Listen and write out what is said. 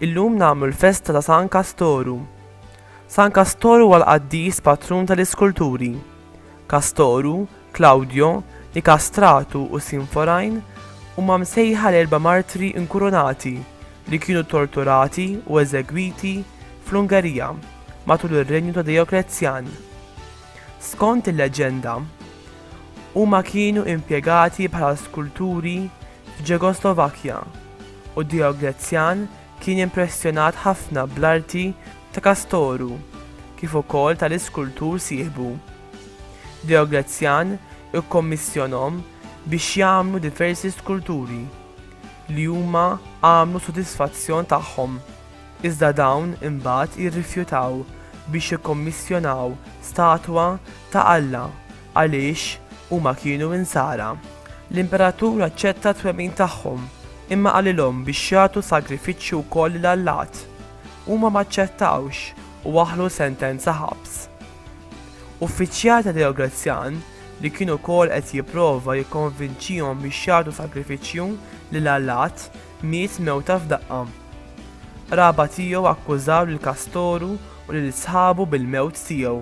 Illum nagħmlu l-festa ta' San Kastoru. San Kastoru għal qaddis patrun tal-iskulturi. Kastoru Klawdjo, Nikastratu u Sinforajn huma msejħa l-erba' martri inkurunati li kienu torturati u eżegwiti fl-Ungerija matul ir-renju ta' Dejoklezzjan. Skont il-leġġenda, huma kienu impjegati bħala skulturi f'Ġegoslovakkja u Dejoklezzjan Kien impressjonat ħafna bl-arti ta' Kastoru kif ukoll tal-iskultur sieħbu. Deoglezzjan ikkommissjonhom biex jagħmlu diversi skulturi, li huma għamlu sodisfazzjon tagħhom, iżda dawn imbagħad irrifjutaw biex jikkommissjonaw statwa ta' Alla Għaliex huma kienu Insara, l-Imperatur aċċetta t-twemmin tagħhom, imma qalilhom biex jagħtu sagrifiċċju wkoll lil allat. Huma ma aċċettawx u waħħlu sentenza ħabs. Uffiċjal ta' Dioglezzjan, li kien ukoll qed jipprova jikkonvinċihom biex jagħtu sagrifiċċju lil allat, miet mewta f'daqqa. Qraba tiegħu akkużaw lil Kastoru u lil sħabu bil-mewt tiegħu.